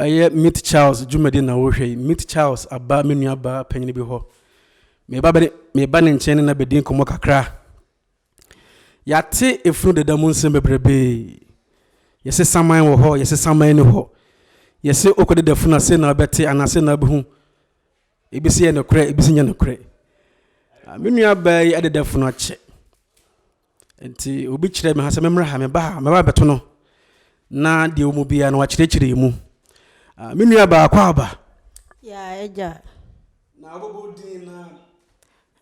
ɛyɛ meet charles dwumadi na wohwɛ yi meet charles aba me nua ba panyin bi hɔ meba bɛ meba ne nkyɛn ne na bɛdi nkɔmmɔ kakra yɛate efunu deda mu nsɛm bebrebe yɛsɛ saman wɔ hɔ yɛsɛ saman ni hɔ yɛsɛ okɔde da funu ase na ɔbɛte anaasɛ na abɛhu Ebi si yɛ nokorɛ, ebi si nyɛ nokorɛ. Ah, me nua baa yi adedɛfo no akyɛ. Nti obi kyerɛ me ha sɛ memmra ha, meba ha, meba bɛto no. Na deɛ wɔn biara no wakyerɛkyerɛ mu. Ah, me nua baa kɔ aba. Yaa agya. Na wobɛbɔ din na.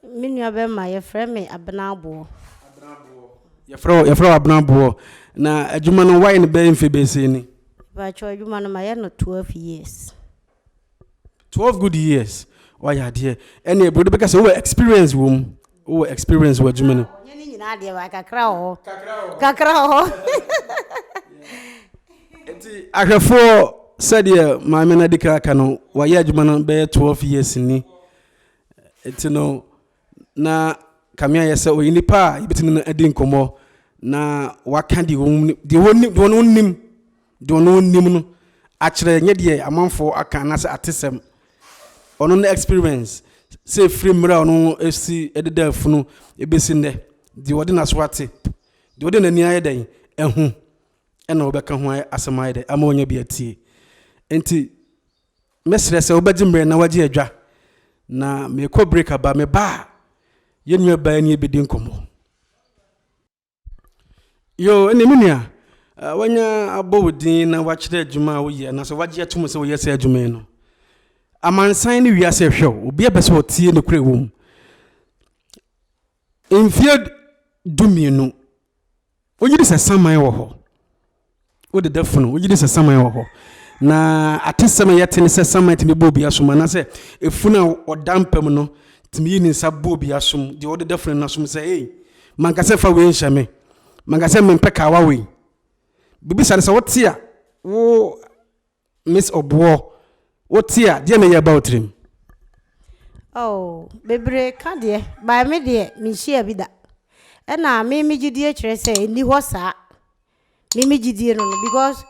Me nua bɛma yɛfrɛ me abena aboɔ. Abena aboɔ. Yɛfrɛ yɛfrɛ wɔ abena aboɔ. Na adwuma no wayɛ no bɛyɛ mfe bɛsɛ ni. Baakyɛ adwuma no ma yɛ no 12 years. Twelve good years wayɛ adeɛ ɛne brode bɛka sɛ wowɔ experience wɔ mu wowɔ experience wɔ adwuma no. Ɔnyɛ ne nyinaa deɛ wa kakra wɔ hɔ. Kakra wɔ hɔ. Nti ahwɛfoɔ sɛdeɛ maame no adi kan aka no wayɛ adwuma no bɛyɛ twelve years ni nti no. na kame ayɛ sɛ ɔyɛ nipa a yɛbɛtumi no adi nkɔmmɔ na waka deɛ wɔn deɛ wɔn deɛ wɔn nim deɛ wɔn nim no akyerɛ nyɛ deɛ amanfoɔ aka anaasɛ atesɛm ɔno no experience sɛ ɛfiri mmerɛ a ɔno ɛsi ɛdeda afunu ɛbɛsi nnɛ deɛ wɔde n'aso ate deɛ wɔde n'ani ayɛ dɛn ɛho ɛna wɔbɛka ho asɛm ayɛ dɛn ama wɔnyɛ bi atie nti Mɛsrɛ sɛ wobɛgye mmerɛ na wagye adwa na mekɔ break aba me ba a yɛn nua baa nie bɛdi nkɔmmɔ. Yoo ɛne me nua wanya abɔ wo din na wakyerɛ adwuma a woyɛ anaasɛ wagye atom sɛ woyɛ sɛ adwuma yi no amansan ne wiase ɛhwɛ wo obi abɛ sɛ ɔtie nokorɛ wɔ mu. Mfeɛ dumienu, wogye di sɛ saman wɔ hɔ? Wode da funu, wogye di sɛ saman wɔ hɔ? Na atesɛm a yɛte ne sɛ saman tumi bɔ obi asom, anaasɛ efunu a ɔda mpa mu no tumi yi ne nsa bɔ obi asom, deɛ ɔde da funu no asom sɛ, Ei, manka sɛ fa wei nhyɛ me, manka sɛ mempɛ kawa wei. Biribi saa no, sɛ wote a, wo. Miss Obuo, wo te a, deɛ na ɛyɛ ba wo tirim? Oh, bebree ka deɛ, by me deɛ, me nhyia bi da. Ɛna me me gyidie kyerɛ sɛ ɛni hɔ saa. Me me gyidie no no, because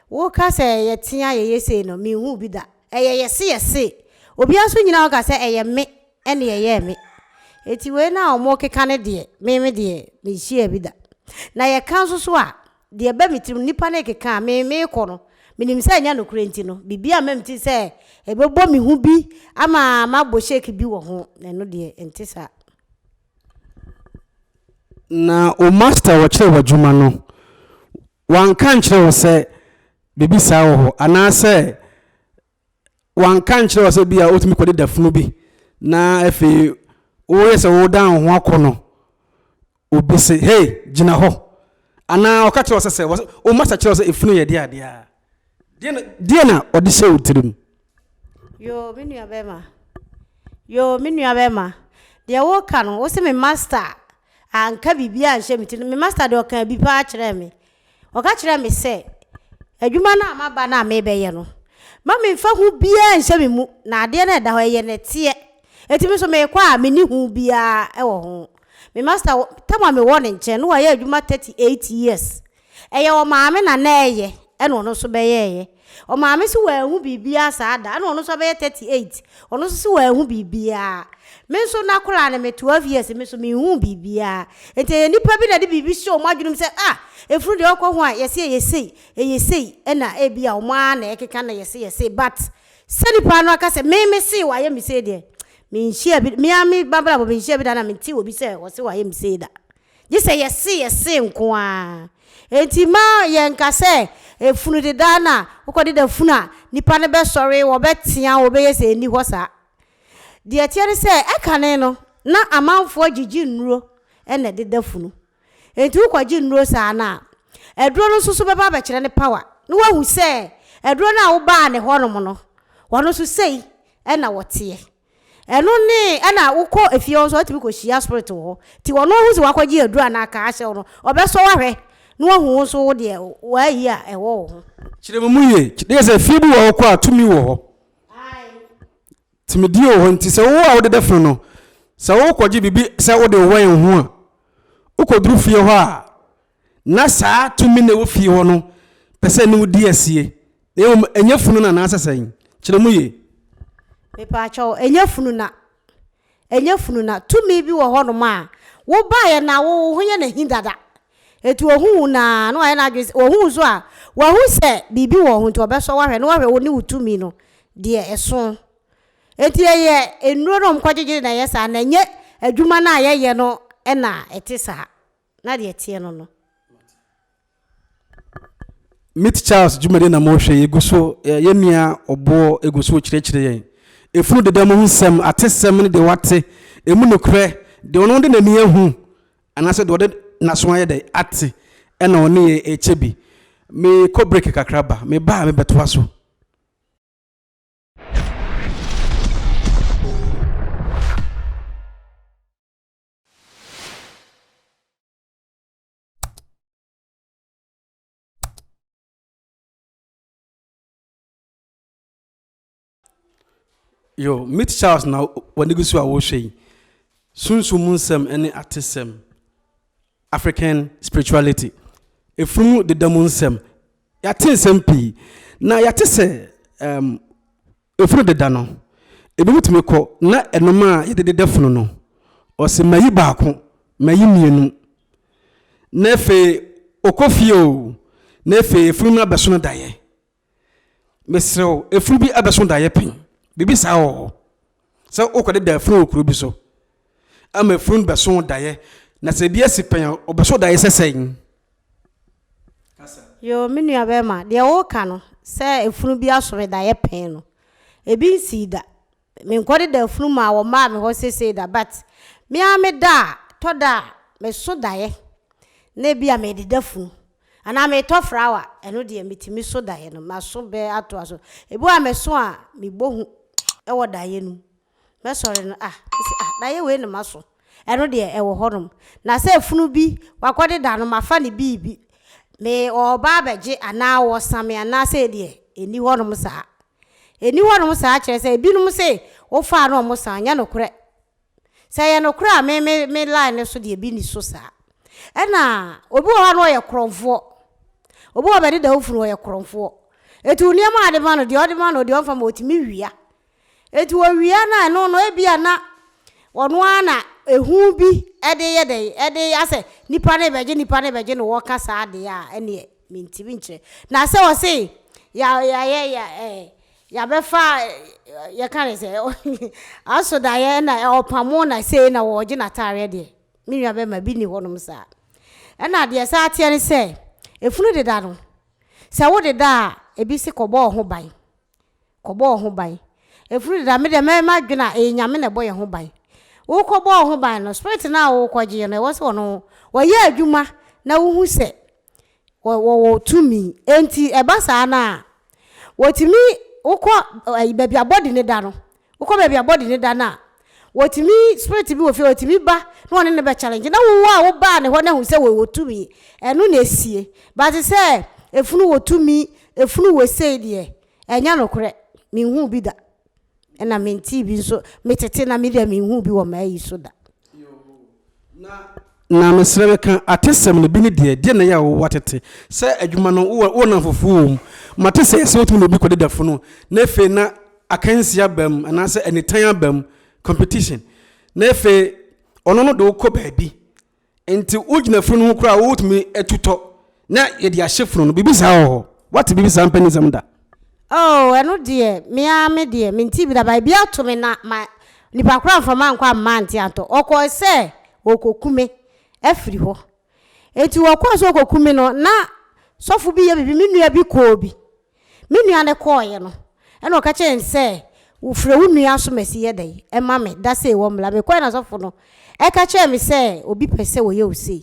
wo ka sɛ yɛ tea yɛ yɛ sei no, me nhu bi da. Ɛyɛ yɛ se yɛ se. Obi aso nyina hɔ ka sɛ ɛyɛ me ɛne ɛyɛ me. Eti wei na ɔmo keka ne deɛ, me me deɛ, me nhyia bi da. Na yɛ ka nso so a, Deɛ ɛba me tirim, nnipa no rekeka a, me, merekɔ no, menim sɛ ɛnyɛ nokorɛ nti no, biribi amma me tirim sɛ ɛbɛbɔ me ho bi ama mabɔ shake bi wɔ ho. Ɛno deɛ, ɛnte saa. Na wo master a ɔkyerɛɛ wo adwuma no, wanka ankyerɛ wo sɛ biribi saa wɔ hɔ, anaasɛ wanka nkyerɛ wo sɛ bi a wotumi kɔde da funu bi na afei woyɛ sɛ wodan wo ho akɔ no obi se hei gyina hɔ anaa ɔka kyerɛ wo sɛ sɛ wo masa kyerɛ wo sɛ efunu yɛ deɛ adeɛ a deɛ na deɛ na ɔde hyɛ wo tirim yoo me nua bɛma yoo me nua bɛma deɛ woka no wo se me master anka biribi anhyɛ me tirim me master deɛ ɔka bi paa kyerɛ me Ɔka kyerɛɛ me sɛ, Adwuma no a maba no a merebɛyɛ no, mma memmfa hu biara nnhyɛ me mu, na adeɛ no a ɛda hɔ, ɛyɛ na ɛteɛ. Enti me nso merekɔ a menni hu biara wɔ ho. Me masta, tam a mewɔ ne nkyɛn no, wayɛ adwuma 38 years. Ɛyɛ ɔmaame na na ɛreyɛ, ɛna ɔno nso bɛyɛeɛ. Ɔmaame se wanhu biribiara saa da, ɛna ɔno nso abɛyɛ thirty eight, ɔno nso se wanhu biribiara. Me nso n'akoraa no me twelve years, me nso menhuu biribiara. Enti ɛyɛ nnipa bi na ɛde biribi hyɛ wɔn adwenem sɛ, ah, efunu deɛ ɔkɔ ho a, yɛse ɛyɛ sei, ɛyɛ sei, ɛna ebia wɔn ara na ɛkeka na yɛse yɛ sei. But sɛ nipa no aka sɛ, me me see wayɛ me sei deɛ, menhyiaa bi, me ara me m'abrabɔ menhyiaa bi da na mentee obi sɛ ɔse wayɛ me sei da. Gye sɛ yɛse yɛse nko ara. Enti mma yɛnka sɛ funu deda na wokɔdeda funu a, nnipa no bɛsɔre, wɔbɛtea, wɔbɛyɛ sei. Ɛnni hɔ saa. Deɛ ɛteɛ ne sɛ, ɛkane no, na amanfoɔ gyegye nnuro na ɛdeda funu. Enti wokɔgye nnuro saa no a, aduro no nso so bɛba abɛkyerɛ ne power, na woahu sɛ aduro no a wobaa ne hɔnom no, wɔn nso sei na wɔteɛ. Ɛno ne ɛna wokɔ efie hɔ nso watumi kɔ hyia spirit wɔ hɔ nti ɔno ahu sɛ wakɔgye aduru anaa kaa ahyɛ wo no ɔbɛsɔ wo ahwɛ na wahu wo nso wo deɛ wayi a ɛwɔ wo ho. Kyerɛ mu mu yie. Kyerɛ yɛ sɛ efie bi wɔ hɔ kɔ a tumi wɔ hɔ. Tumidie wɔ hɔ nti sɛ wo a wode dɛfene no sɛ wokɔgye biribi sɛ wode wɛn ho a wokɔduru fie hɔ a na saa tumi no a ɛwɔ fie hɔ no pɛ sɛ ɛne wo di asie, na mmom ɛnyɛ funu no anaasɛ sɛn? Kyerɛ mu yie. Mepaakyɛw, ɛnyɛ funu na. Ɛnyɛ funu na. Tumi bi wɔ hɔnom a, wobaeɛ na wo ho yɛ no ahi dada. Enti ɔhu wo na na wayɛ n'adwene sɛ, ɔhu wo nso a, wahu sɛ biribi wɔ wo ho nti ɔbɛsɔ wo ahwɛ, na wahwɛ wo ne wo tumi no deɛ ɛso. Enti ɛyɛ nnuro na wɔkɔgyegye na ɛyɛ saa, na ɛnyɛ adwuma no a yɛyɛ no na ɛte saa. na deɛ ɛteɛ no no. Meet Charles dwumadie na mohwɛ yi gu so ɛ yɛn nua ɔboɔ gu so rekyerɛkyerɛ yɛn efunu deda mu ho nsɛm atesɛm ne deɛ wate emu nokorɛ deɛ ɔno de n'ani ahu anaasɛ deɛ ɔde n'aso ayɛ dɛ ate ɛna ɔne yɛn rekyɛ bi mekɔ break kakra ba meba a mebɛtoa so. Yo, meet Charles na w'ani gu so a wohwɛ yi. Sunsum mu nsɛm ne atesɛm, African spirituality, efunu deda mu nsɛm. Yɛate nsɛm pii, na yɛate sɛ um, Efunu deda no, ebinom tumi kɔ na ɛnom a yɛde deda funu no, ɔse mayi baako, mayi mmienu, na afei ɔkɔ fie o, na afei efunu no abɛso no daeɛ. Mesrɛ wo, efunu bi abɛso daeɛ pen? Biribi saa wɔ hɔ? Sɛ wokɔdeda efunu wɔ kuro bi so ama efunu no bɛso daeɛ, na sɛ ebi asi pen a, ɔbɛso daeɛ sɛ sɛn? kasa. Yoo me nua bɛɛma deɛ woka no sɛ afunu bi aso me daeɛ pɛn no ebi nsii da menkɔde da afunu maa wɔ maa me hɔ sesei da but me ara me da a tɔ da a meso daeɛ na ebi a mede da funu anaa metɔ frawa ɛno deɛ metumi so daeɛ no maso bɛ atoa so ebi wɔ a meso a mebɔ hu ɛwɔ daeɛ no mu. Mɛsɔre no, ah, mese ah, daeɛ wei ne maso. Ɛno deɛ ɛwɔ hɔ nom. Na sɛ funu bi wakɔ de da no, mafa ne biribi. Me ɔɔba abɛgye anaa ɔɔsa me anaa sei deɛ, ɛnni hɔ nom saa. Ɛnni hɔ nom saa kyerɛ sɛ ebinom se wofaa na wɔn san, ɛnyɛ nokorɛ. Sɛ ɛyɛ nokorɛ a me me me line no so deɛ bi nni so saa. Ɛna obi wɔ hɔ a na ɔyɛ korɔmfoɔ. Obi wɔ hɔ a bɛde da wo funu ɔyɛ korɔmfoɔ. Ɛti wo nneɛma a wode ma no, deɛ ɔde ma no, deɛ ɔmfa ma wo, ɔtumi wia. Enti owia no a ɛno no ebia na ɔno ara na ehu bi de yɛ dɛn, de yɛ asɛ nnipa no rebɛgye nnipa no rebɛgye na wɔka saa deɛ a, ɛneɛ mentimi nkyerɛ. Na sɛ ɔse ya ya ya ya eh, yɛabɛfa yɛka ne sɛ asodaeɛ na ɔpamo na sei na wɔregye n'ataareɛ deɛ, me nua bɛrima bi nni hɔnom saa. Ɛna deɛ ɛsan teɛ ne sɛ, efunu deda no, sɛ wodeda a, ebi se kɔbɔ wo ho ban. Kɔbɔ wo ho ban. Efuru deda me deɛ mɛyɛ m'adwene a ɛyɛ Nyame na ɛbɔ yɛn ho ban. Wokɔbɔ wo ho ban no, spirit no a wokɔgyeeɛ no, ɛwɔ sɛ ɔno ɔyɛ adwuma na wohu sɛ wɔwɔ tumi. Enti ɛba saa no a, wɔtumi wokɔ baabi a body no da no, Wokɔ baabi a body no da no a, wɔtumi, spirit bi wɔ fie a ɔtumi ba na wɔne no bɛ challenge. Na wo a wo baa ne hɔ no ahu sɛ wɔ tumi, ɛno na ɛsie. But sɛ ɛfunu wɔ tumi, ɛfunu wɔ sei deɛ, ɛnyɛ nokorɛ. Me nhuu bi da. Ɛna me ntee bi nso, me tete na me deɛ me nhuu bi wɔ m'ayi so da. Na, na mesrɛ meka atesɛm no bi ne deɛ, deɛ na ɛyɛ a wowɔ atete sɛ adwuma no wowɔ wowɔ nnamfofoɔ wɔ mu. Mate sɛ ɛsɛ sɛ wotumi ne obi kɔda da funu na afei na akansie aba mu anaasɛ anitan aba mu, competition, na afei ɔno no de wo kɔ baabi nti wogyina funu no ho koraa a wotumi atu tɔ Na yɛde ahyɛ funu no. Biribi saa wɔ hɔ. Woate biribi saa mpa nsɛm da? Oh, ɛno deɛ, me ara me deɛ, mentee bi da. But ebi ato me na ma nipa koro amfa mankɔ amma ante antɔ. Ɔkɔe sɛ ɔrekɔku me afiri hɔ. Enti ɔkɔe sɛ ɔrekɔku me no, na sɔfo bi yɛ biribi. Me nua bi kɔɔ bi. Me nua no kɔɔeɛ no, ɛna ɔka kyerɛɛ no sɛ, Frɛ wo nua so ma si yɛ dɛn? Ɛma me, da sei wɔ mmra. Mekɔɛ na sɔfo no ɛka kyerɛɛ me sɛ obi pɛ sɛ ɔyɛ wo sei.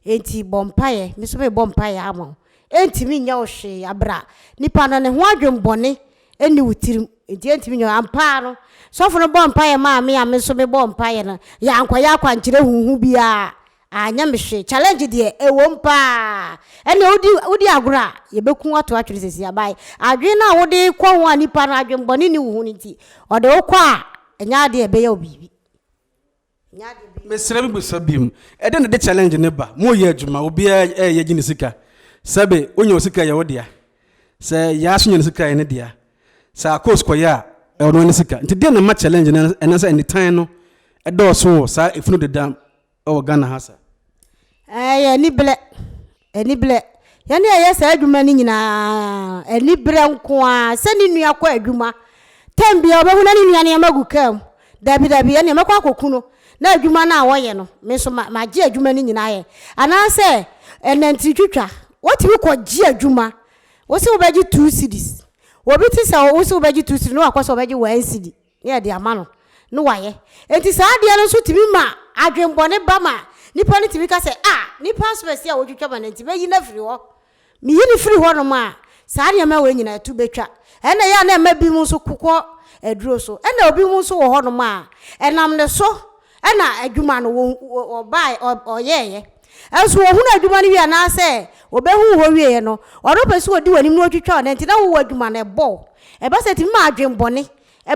Enti bɔ mpaeɛ, me nso mebɔ mpaeɛ ama wo. Ɛntumi nyɛ wo hwee aberɛ a nipa no ne ho adwen bɔne nni wo tirim, enti ɛntumi nyɛ wo. Ampa ara no, sɔfo no bɔɔ mpaeɛ maa me a me nso mebɔɔ mpaeɛ no, yɛankɔyɛ akwankyerɛ huhu biara Anyɛ me hwee challenge deɛ ɛwom paa ɛneɛ wodi wodi agorɔ a yɛbɛku ato atwene sɛsi abae adwene no a wode kɔ ho a nipa no adwen bɔne nni wo ho no nti ɔde wo kɔ a ɛnyɛ adeɛ a ɛbɛyɛ wo biribi ɛnyɛ adeɛ ɛbɛyɛ Mesrɛ me bisa biom ɛdɛn na ɛde challenge no ba mo yɛ adwuma obiara ɛɛyɛ gye ne sika sɛbe wo nya wo sika ɛyɛ wo dea sɛ yaa so nya ne sika ɛyɛ ne dea sɛ akos kɔ yɛ a ɛwɔ no ne sika nti dɛn na ɛma challenge no ɛnasa nitan no ɛdɔɔso wɔ saa ɛfunu deda wɔ Ghana ha sa. Ɛyɛ aniberɛ, aniberɛ. Yɛn na yɛyɛ saa adwuma no nyinaa, aniberɛ nko ara. Sɛ ne nua kɔ adwuma, tɛm bia ɔbɛhu na ne nua nneɛma gu kaa mu. Dabi dabi, ɛnna mɛkɔ akɔku no na adwuma no a wɔyɛ no, me nso magye adwuma no nyinaa yɛ. Anaasɛ ɛnantiri twitwa, wotumi kɔgye adwuma. Wo se wobɛgye two cedis. Obi te sɛ wo se wobɛgye two cedis na wakɔ sɛ ɔbɛgye one cedi. na yɛde ama no na wayɛ. Enti saa adeɛ no nso tumi ma adwemmɔne ba ma nipa no tumi ka sɛ, a, nipa asopɛsi a wɔtwitwa ma no nti mɛyi no afiri hɔ. Meyi no firi hɔnom a, saa nneɛma wei nyinaa to bɛtwa. Ɛna ɛyɛ a na ɛma binom nso kokɔ aduro so. Ɛna obinom nso wɔ hɔnom a, ɛnam ne so na adwuma no wɔn wɔn ɔbaeɛ ɔyɛeɛ. Nso ɔhunu adwuma no wie anaasɛ ɔbɛhunu hɔ wieɛ no, ɔno pɛ sɛ ɔdi w'anim na ɔtwitwa wo nanti na wowɔ adwuma no ɛbɔ wo. Ɛba saa ɛtumi ma adwen bɔne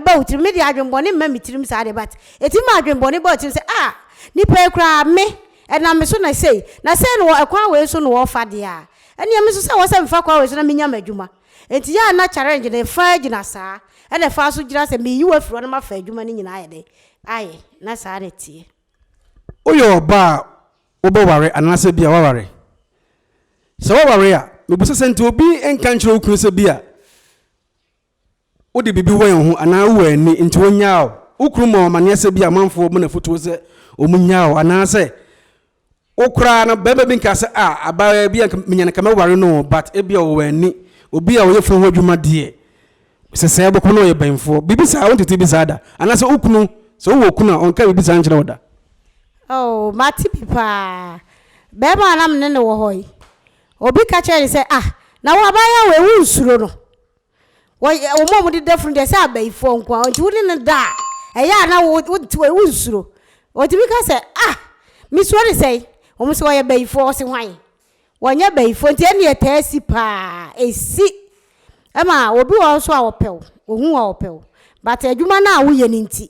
ba wo tirim. Me deɛ adwen bɔne mma me tirim saa deɛ but ɛtumi ma adwen bɔne ba wo tirim sɛ ah nipa yi koraa me ɛnam me so na sei na sei na ɛkwan wei so na ɔrefa deɛ a ɛneɛ me nso sɛ ɛwɔ sɛ mefa kwan wei so na menya m'adwuma. Nti yɛ a na challenge no ɛfa gyina saa ɛna ɛfa nso gyina sɛ meyi wo afiri hɔ na mafa adwuma no nyinaa ayɛ dɛn ayɛ na saa na ɛteɛ. Woyɛ ɔbaa a wobɛware anaasɛ ebia woaware? Sɛ woaware a, mebisa sɛ nti obi nka nkyerɛ wo kunu sɛ ebia wode biribi wɛn wo ho anaa wowɔ ani nti wonyaa wo. Wo kunu ma wo amanneɛ sɛ ebia amanfoɔ bu no afotuo sɛ wɔnnyaa wo anaasɛ Wo koraa no barima bi nka sɛ ah abaayewa bi a nka menya no nka mɛware no o but ebia ɔwɔ ani, obi a ɔyɛ funu ho adwuma deɛ sɛsɛɛ bɔkɔ na ɔyɛ bɛnfoɔ. Biribi saa wontete bi saa da? Anaasɛ wo kunu sɛ wowɔ okunu a ɔnka biribi saa nkyerɛ wo da? Oh mate bi paa. Barima a na me ne no wɔ hɔ yi, obi ka kyerɛɛ no sɛ ah na wo abaayewa wei wonsuro no. Wɔyɛ wɔn a wɔde da funu deɛ sɛ abayifoɔ nko ara nti wode no da a ɛyɛ a na wo wonte wɔ wonsuro. Wɔtumi ka sɛ ah mesuro ne sɛn wɔn sɛ wɔyɛ bayifoɔ wɔse hwan wɔnyɛ bayifoɔ nti ɛne ɛtaa si paa ɛsi ɛma obi wɔ hɔ nso a ɔpɛ wo ɔhu wo a ɔpɛ wo but adwuma no a woyɛ no nti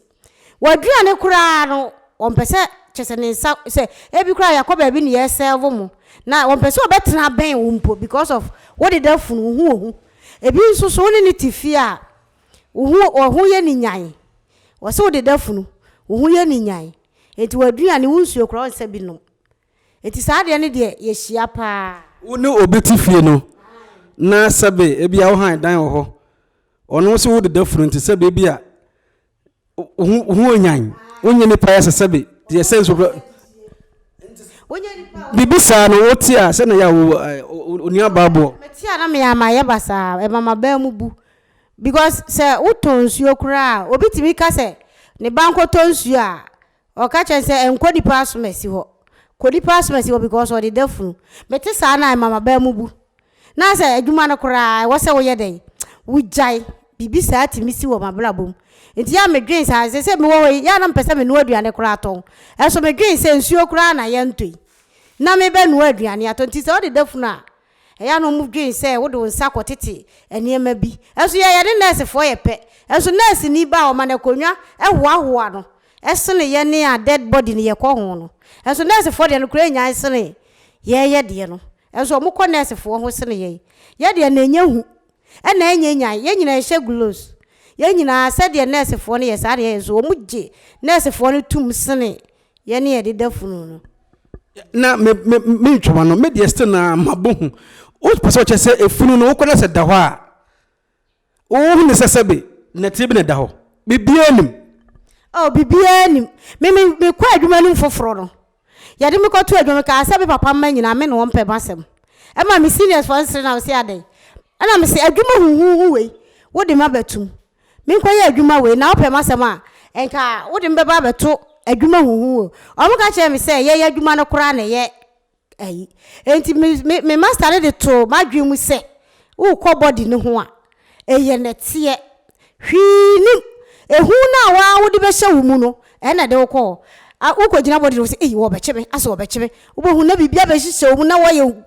W'aduane koraa no ɔmpɛ sɛ kyerɛ sɛ ne nsa sɛ ebi koraa yɛkɔ baabi na yɛ serve mo na ɔmpɛ sɛ ɔbɛtena bɛn wo mpo because of wo deda funu wo ho wɔ ho ebi nso so wo ne ne te fie a wo ho wɔ ho yɛ ne nyan wɔ sɛ wo deda funu wo ho yɛ ne nyan enti w'aduane wo nsuo koraa ɔnsa bi nom enti saa deɛ ne deɛ yɛ hyia paa. Wo ne obi te fie no na sɛbe ebi a wo han dan wɔ hɔ ɔno nso wo deda funu nti sɛbe ebi a ho onyan wonyɛ nipa yɛ sɛsɛ bi yɛ sɛ nso biribi saa no wote a sɛ na yɛ onua baaboɔ mete a na meyɛ ama yɛ ba saa ɛma ma baa mu bu because sɛ wotɔ nsuo koraa obi tumi ka sɛ ne ba nkɔtɔ nsuo a Ɔka kyerɛ no sɛ nkɔ nipa asomasi hɔ kɔ nipa asomasi hɔ because ɔde da funu mete saa na ɛma mabaa mu bu na sɛ adwuma no koraa ɛwɔ sɛ woyɛ dɛn wogyae biribi saa tumi si wɔ mabrabɔ mu nti yɛ a medwen saa sɛ sɛ mewɔ hɔ yi yɛ a na mpɛ sɛ menoa aduane koraa tɔn ɛso medwen sɛ nsuo koraa na yɛntɔ yi na mebɛnoa aduane atɔ nti sɛ ɔde da funu a Ɛyɛ a na wɔdwen sɛ wode wo nsa kɔtete nneɛma bi. Nanso yɛn yɛne nɛɛsefoɔ yɛ pɛ. Nanso nɛɛseni ba a wɔma no akonnwa hoahoa no sene yɛne a dead body no yɛkɔ ho no. Nanso nɛɛsefoɔ deɛ no koraa nnyae sene yɛn yɛ deɛ no. Nanso wɔkɔ nɛɛsefoɔ ho sene yɛn. Yɛn deɛ na ɛnyɛ hu na ɛnyɛ nyan. Yɛn nyinaa yɛhyɛ gloves. Yɛn nyinaa sɛdeɛ nɛɛsefoɔ no yɛ saa na yɛyɛ. Nanso wɔgye nɛɛsefoɔ no tom sene Yɛ ne yɛde da funu no. na me me me ntwoma no me deɛ still na ma bɔ hu wopɛ sɛ ɔkyɛ sɛ efunu no wokɔ na sɛ da hɔ a wohu ne sɛ sɛbe nɛteɛ bi na ɛda hɔ biribiara nim Oh, biribiara nim. Me me mekɔ adwuma no mu foforɔ no, yɛde me kɔto adwuma mekaa sɛ me papa mma nyinaa me ne wɔn pɛ m'asɛm. Ɛma me seniors foɔ nsere na wɔse adɛn? Ɛna mese adwuma huhuhu wei wode m'aba tum. Menkɔyɛ adwuma wei, na wopɛ m'asɛm a, nka wode me bɛba abɛto adwuma huhu o. Wɔka kyerɛɛ me sɛ yɛyɛ adwuma no koraa na ɛyɛ ayi. Enti me, me, me master no de too m'adwene mu sɛ, wokɔ body no ho a, ɛyɛ nɛteɛ. Hwee nnim. Ehu no a wo ara wode bɛhyɛ wo mu no, ɛna ɛde wo kɔ hɔ. A, wokɔgyina body no ho sɛ, ei, wɔbɛkye me, asɛ wɔbɛkye me. Wobɛhu na biribi abɛhyehyɛ wo mu na woayɛ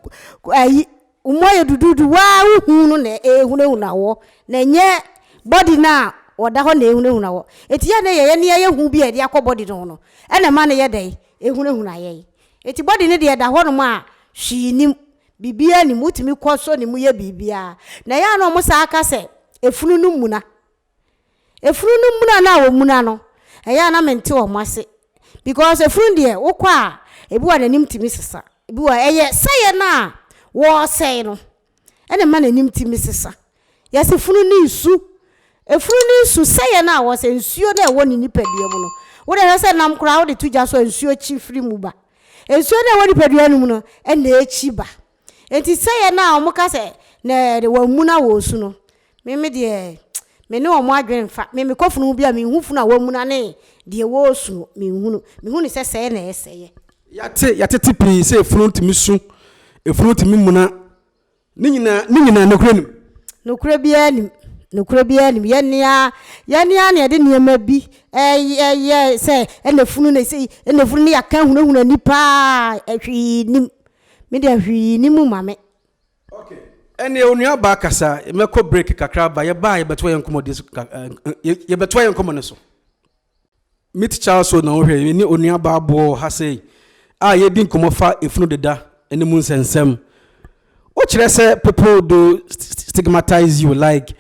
ayi, Wo mu ayɛ duduudu, woaa wo hu no na ɛɛhunahuna woɔ, na ɛnyɛ body no a ɔda hɔ na ɛɛhunahuna woɔ. Enti yɛ ne yɛ yɛ nea yɛ hu bi a yɛde akɔ body no ho no na ɛma no yɛ dɛn? Ɛhunahuna yɛn. Enti body no deɛ ɛda hɔnom a hwee nnim, biribiara nnim, wotumi kɔ sɔ ne mu yɛ biribiara. Na ɛyɛ a na wɔsan ka sɛ, Efunu no mmuna. Efunu no muna no a wɔmuna no, ɛyɛ a na mente wɔn ase because efunu deɛ wokɔ a, ebi wɔ n'anim tumi sesa. Ebi wɔ ɛyɛ sɛeɛ no a wɔresɛe no na ɛma n'anim tumi sesa. Yɛse funu ne nsu. Efunu ne nsu sɛeɛ no a wɔsɛ nsuo no a ɛwɔ ne nipadua mu no, wode hwɛ sɛ nam koraa wode to gya so a nsuo kyi firi mu ba. Nsuo no a ɛwɔ nipadua no mu no na ɛkyi ba. Enti sɛ yɛn a wɔn ka sɛ na ɛde wɔn amu na wɔn su no, me me deɛ me ne wɔn adwene nfa, me me kɔ funu ho bi a me nhu funu a wɔn amu na ne deɛ wɔn su no me nhu no, me hu no sɛ sɛɛ na ɛsɛ yɛ. Yɛate yɛatete pii sɛ efunu tumi su, efunu tumi muna, ne nyinaa ne nyinaa nokorɛ nim? Nokorɛ biara nim, nokorɛ biara nim, yɛn ne a yɛn ne a na yɛde nneɛma bi ɛyɛ yɛ sɛ ɛna efunu na esei ɛna efunu ne yɛaka ahunahuna nipa a hwee nim. Me deɛ hwee nni mu ma me. Okay ɛneɛ onua baa kasa mɛkɔ break kakra aba yɛbaa yɛbɛtoa yɛn nkɔmɔdie so yɛbɛtoa yɛn nkɔmɔ no so meet charles o na wohwɛ yɛne onua baa boɔ wɔ ha sei a yɛdi nkɔmɔ fa efunu deda ne mu nsɛnsɛm wokyerɛ sɛ people do stigmatize you like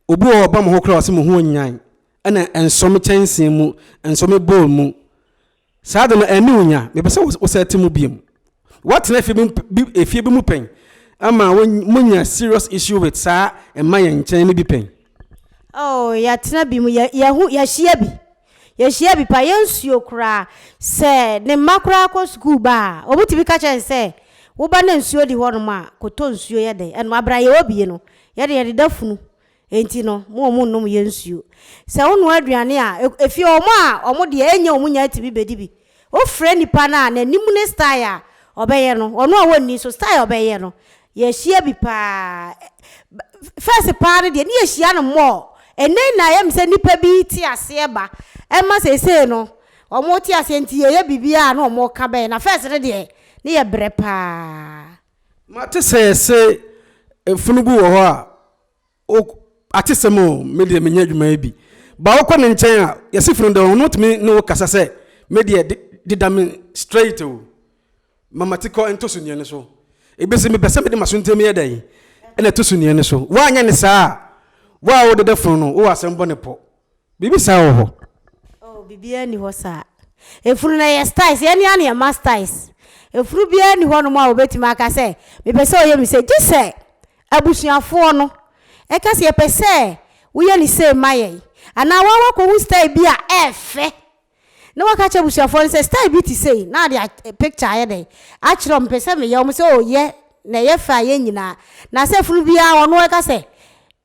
obi wɔ ɔba mo ho koraa ɔse mo ho onyan ɛna ɛnsɔ me kyɛnsee mu ɛnsɔ me bowl mu Saa ade no, ɛne wo nya. Mepɛ sɛ wosan te mu biom. Woatena efie bi mu efie bi mu pɛn ama monya serious issue with saa mma yɛn nkyɛn no bi pɛn? Oh, yɛatena bi mu. Yɛ, yɛahu, yɛahyia bi. Yɛahyia bi paa. Yɛnsuo koraa. Sɛ ne mma koraa kɔ sukuu ba a, wɔtumi ka kyerɛ no sɛ, Wo ba na nsuo di hɔnom a, kɔtɔ nsuo yɛ dɛn? Ɛno, abrɛ a yɛwɔ bi no, yɛde yɛdeda funu Enti no, mo wɔn nnom yɛ nsuo. Sɛ wo noa aduane a, ɛfie hɔ wɔn a wɔn deɛ ɛnyɛ wɔn nya tumi bɛ di bi. Wo frɛ nipa no a, n'anim ne style a ɔbɛyɛ no, wɔn a wɔnni nso style a ɔbɛyɛ no, yɛ hyia bi paa. First paa no deɛ, ne yɛ hyia no more. Ɛnɛ na ayɛ me sɛ nipa bi te aseɛ ba, ɛma seesei no, wɔn te aseɛ nti yɛ yɛ biribiara a na wɔn ka bɛyɛ. Na first no deɛ, ne yɛ brɛ paa. Mate sɛ yɛse mfunu bi wɔ hɔ a O, atesɛm o, me deɛ menyɛ adwuma yi bi. Ba wokɔ ne nkyɛn a, yɛse funu dɛ, ɔno tumi ne wo kasa sɛ, me deɛ de, de da me straight o. Ma mati kɔ nto suneɛ no so. Ebi se, mepɛ sɛ mede m'asontam yɛ dɛn? Ɛna to suneɛ no so. Woanyɛ no saa a, wo a wode da funu no, wowɔ asɛm bɔ ne pɔ. Biribi saa wɔ hɔ? Oh, biribiara nni hɔ saa. Efunu no yɛ styles, yɛn ara na yɛma styles. Efunu biara nni hɔnom a obetumi aka sɛ, Mepɛ sɛ ɔyɛ me sei. Gye sɛ abusuafoɔ no ka sɛ, Yɛpɛ sɛ woyɛ no sei ma yɛn. Anaa woara woakɔhu style bi a ɛyɛ fɛ na waka akyerɛ abusuafoɔ no sɛ style bi te sei na ɔde a picture ayɛ dɛn akyerɛ wɔn mpɛ sɛ meyɛ wɔn sɛ oh yɛ na ɛyɛ fɛ a yɛ nyinaa na sɛ funu biara ɔno ɛka sɛ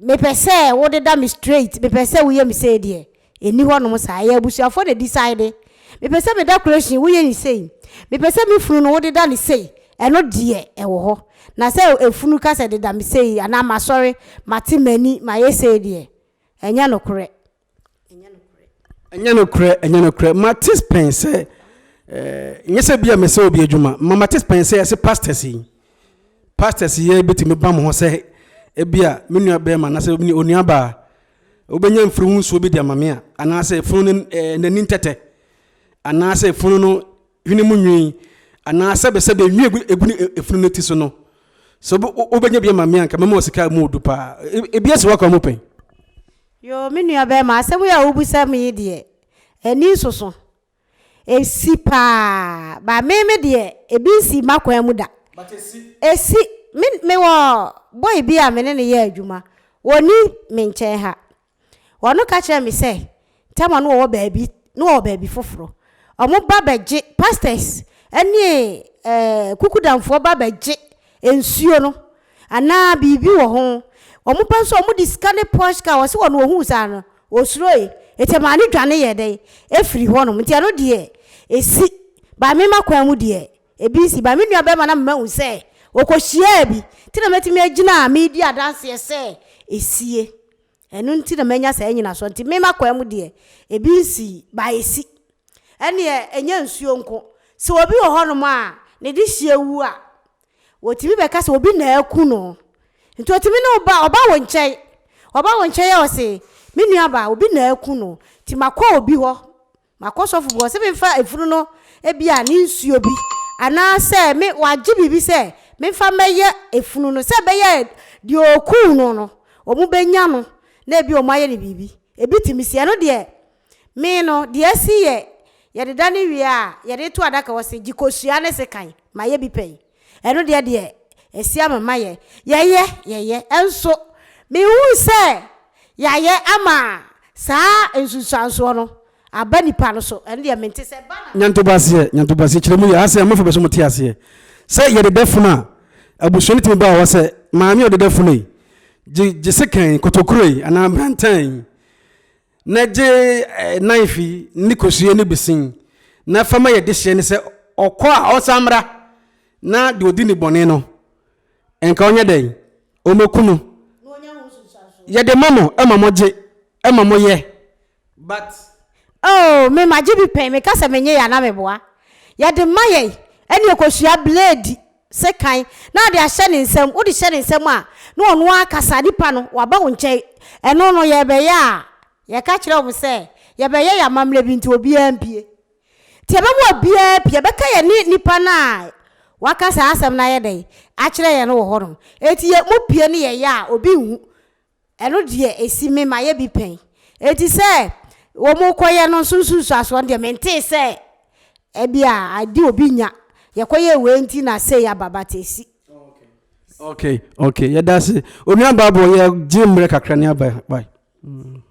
mepɛ sɛ wodeda me straight mepɛ sɛ woyɛ me sei deɛ ɛni hɔ nom saa ɛyɛ abusuafoɔ na decide mepɛ sɛ me decoration woyɛ ne sei mepɛ sɛ me funu no wodeda ne sei ɛno deɛ ɛwɔ hɔ na sɛ efunu ka sɛ deda me sei anaa masɔre mate m'ani mayɛ sei deɛ ɛnyɛ nokorɛ Ɛnyɛ nokorɛ. Ɛnyɛ nokorɛ, ɛnyɛ nokorɛ. Mate pɛn sɛ, eh, nyɛ sɛ bia mesɛ obi adwuma, ma mate pɛn sɛ ɛse pastors yi, pastors yi bɛtumi ba mo ho sɛ, ebia me nua bɛrima anaasɛ me onua baa, wobɛnya mfiri ho nsuo bi de ama me a, anaasɛ funu no eh, n'ani ntɛtɛ, anaasɛ funu no hwene mu nwii, anaasɛ bɛ sɛ bɛ nwi egu, egu ne efunu no ti so no. So wobɛnya bi ama me anka mɛma wɔ sika mu odu paa. Ebi asi wakɔ mo pɛn. Yoo, me nua barima, asɛm yi a wobisam yi deɛ, ani nsoso. Esi paa, but me me deɛ, ebi nsii m'akwan mu da. But esi. Esi. Me, mewɔ boy bi a me ne no yɛ adwuma, ɔnni me nkyɛn ha. Ɔno ka kyerɛɛ me sɛ, Thelma no wɔwɔ baabi, no wɔwɔ baabi foforo. Wɔba bɛgye, pastors ne eh, kukudamfoɔ ba bɛgye nsuo no. Anaa biribi wɔ ho. Wɔpɛ nso a wɔde sika ne posh car, ɔse wɔn ɔhuu saa no ɔsuroe, nti ɛmaa no dwane yɛɛ dɛn? Ɛfiri hɔnom. Nti ɛno deɛ ɛsi, by me m'akwan mu deɛ ɛbi nsi, by me nua barima na me mahu sɛ ɔkɔ hyiaa bi, nti na mɛtumi agyina a medi adanseɛ sɛ ɛsie. Ɛno nti na manya saa nyinasoɔ, nti me m'akwan mu deɛ ɛbi nsi, by ɛsi. Ɛnneɛ ɛnyɛ nsuo nko, sɛ obi wɔ hɔnom a ne dehyeɛ wu a, Wɔtumi bɛka sɛ obi na aku no. Nti ɔtumi ne wo ba, ɔba wo nkyɛn. Ɔba wo nkyɛn a ɔse, me nua ba, obi na aku no, nti makɔ obi hɔ, makɔ sɔfo bi hɔ sɛ memfa efunu no ebia ne nsuo bi anaasɛ me, wagye biribi sɛ memfa mmɛyɛ efunu no sɛ ɛbɛyɛ a deɛ ɔkuu no no, wɔbɛnya no na ebia wɔayɛ no biribi. Ebi tumi si. Ɛno deɛ. Me no, deɛ asi yɛ yɛde da no wie a, yɛde to adaka hɔ se, Gye kosua ne sekan ma yɛ bi pɛn. Ɛno deɛ, deɛ asi ama ma yɛ. Yɛyɛ, yɛyɛ. Nso, menhunu sɛ yɛayɛ ama saa nsunsuansoɔ no aba nnipa no so. Ɛno deɛ, mente sɛ ɛba na. Nyantoboaseɛ, nyantoboaseɛ kyerɛ mu yɛ. Ase a, mofa bɛ so mote aseɛ sɛ yɛde da funu a, abusua no tumi ba wɔ hɔ sɛ, Maame a ɔde da funu yi, gye, gye sekan, kotokuroe, anaa brantan yi na gye nan fi ne kosua no bi sin, na fa ma yɛn dehyeɛ no sɛ ɔkɔ a ɔnsan mmra, na deɛ ɔdi ne bɔne no, nka ɔnyɛ dɛn? Ɔmmɛku no. Yɛde ma mo ma mogye ma moyɛ. But. Oh, me magye bi pɛn, meka sɛ menyɛ yɛ anaa meboa? Yɛde ma yɛn ɛne ɔkosua blade. sekan na ade ahyɛ ne nsam, wode hyɛ ne nsam a, na ɔno ara kasa, nipa no, waba wo nkyɛn. Ɛno no, yɛrebɛyɛ a, yɛka kyerɛ wɔn sɛ, yɛbɛyɛ yɛn amammerɛ bi nti, obiara mpue. Nti yɛbɛma obiara apue, yɛbɛka yɛne nipa no a waka saa asɛm no ayɛ dɛn, akyerɛ yɛn no wɔ hɔnom. Enti yɛ, mopue ne yɛyɛ a, obi nhu. Ɛno deɛ ɛsi me mayɛ bi pɛn. Enti sɛ wɔkɔyɛ no nso nsunsuasoɔ no deɛ mentee sɛ ɛbia ade obi nya yɛkɔyɛɛ wei nti na sei aba but ɛsi. Ok ok yɛdase onua Bible yɛ gye mmerɛ kakra ne aba bye. Mm.